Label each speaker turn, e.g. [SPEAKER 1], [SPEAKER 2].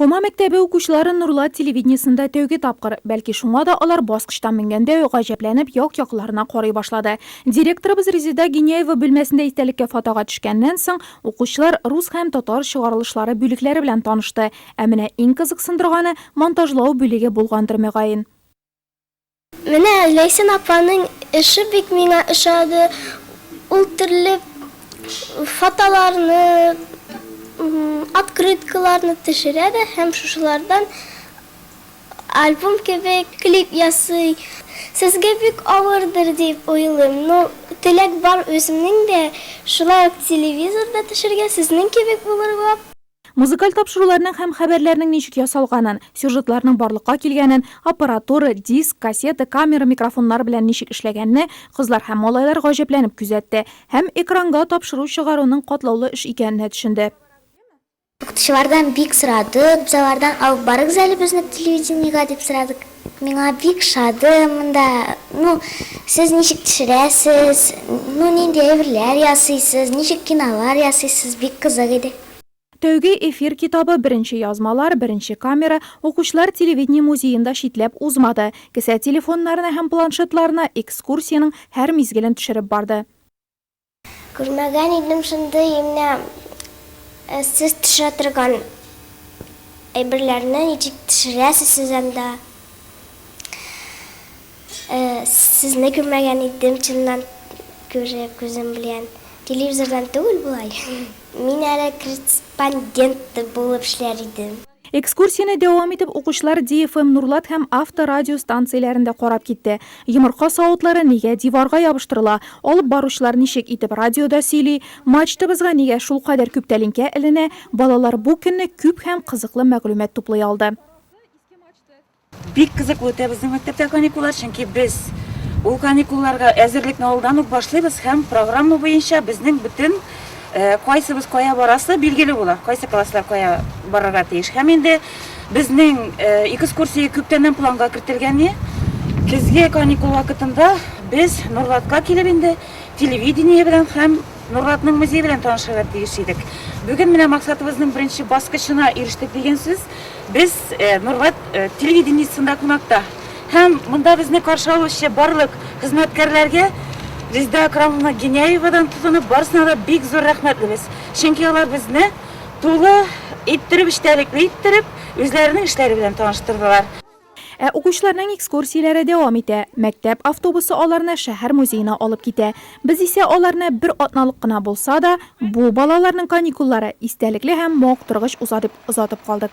[SPEAKER 1] Фома мәктәбе укучылары Нурлат телевидениесендә тәүге тапкыр. Бәлки шуңа да алар баскычтан менгәндә үк гаҗәпләнеп як-якларына карый башлады. Директорыбыз Резеда Гиняева бүлмәсендә истәлеккә фотога төшкәннән соң, укучылар рус һәм татар чыгарылышлары бүлекләре белән танышты. Ә менә иң кызыксындырганы монтажлау бүлеге булгандыр мөгаен.
[SPEAKER 2] Менә Ләйсән апаның эше бик миңа ошады, ул төрле фотоларны, открыткаларны төшерә дә һәм шушылардан альбом кебек клип ясый. Сезгә бик авырдыр дип уйлыйм, но теләк бар үземнең дә шулай ук телевизорда төшергә, сезнең кебек булырга. Музыкаль
[SPEAKER 1] тапшыруларның һәм хәбәрләрнең ничек ясалганын, сюжетларның барлыкка килгәнен, аппаратура, диск, кассета, камера, микрофоннар белән ничек эшләгәнне кызлар һәм малайлар гаҗәпләнеп күзәтте һәм экранга тапшыру чыгаруның катлаулы эш икәненә төшенде.
[SPEAKER 2] Укытучылардан бик сорадык, без алардан алып барыгыз әле безне телевидениегә дип сорадык. Миңа бик шады монда, ну, сез ничек төшерәсез, ну, нинди әйберләр ясыйсыз, ничек кинолар ясыйсыз, бик кызык иде. Тәүге
[SPEAKER 1] эфир китабы, беренче язмалар, беренче камера, укучылар телевидение музеен да читләп узмады, кесә телефоннарына һәм планшетларына экскурсиянең һәр мизгелен төшереп барды.
[SPEAKER 2] Күрмәгән идем шундый имнә сез төшә торган әйберләрне ничек төшерәсез сез анда? Сезне күрмәгән идем чыннан күреп күзем белән, телевизордан түгел болай. Мин әле корреспондент булып эшләр идем. Экскурсияне дәвам
[SPEAKER 1] итеп укучылар DFM Нурлат һәм Авто радио станцияләрен дә карап китте. Йомырка савытлары нигә диварга ябыштырыла, алып баручылар ничек итеп радиода сөйли, мачтабызга нигә шулкадәр күп тәлинкә эленә, балалар бу көнне күп һәм кызыклы мәгълүмат туплый алды.
[SPEAKER 3] Бик кызыклы үтә безнең мәктәптә каникуллар, чөнки без ул каникулларга әзерлекне алдан ук башлыйбыз һәм программа буенча безнең бөтен кайсыбыз кая барасы билгеле була, кайсы класслар кая барырга тиеш. Һәм инде безнең экскурсия күптәннән планга кертелгәне. Көзге каникул вакытында без Нурлатка килеп инде телевидение белән һәм Нурлатның музее белән танышырга тиеш идек. Бүген менә максатыбызның беренче баскычына ирештек дигән сүз. Без э, Нурлат э, телевидениесында кунакта. Һәм монда безне каршы алучы барлык хезмәткәрләргә Резеда Акрамовна Геняевадан тотынып барысына да бик зур рәхмәтлебез. Чөнки алар безне тулы иттереп, эчтәлекле иттереп, үзләренең эшләре белән таныштырдылар. Ә укучыларның
[SPEAKER 1] экскурсияләре дәвам итә. Мәктәп автобусы аларны шәһәр музеена алып китә. Без исә аларны бер атналык кына булса да, бу, балаларның каникуллары, истәлекле һәм мавыктыргыч уза дип озатып калдык.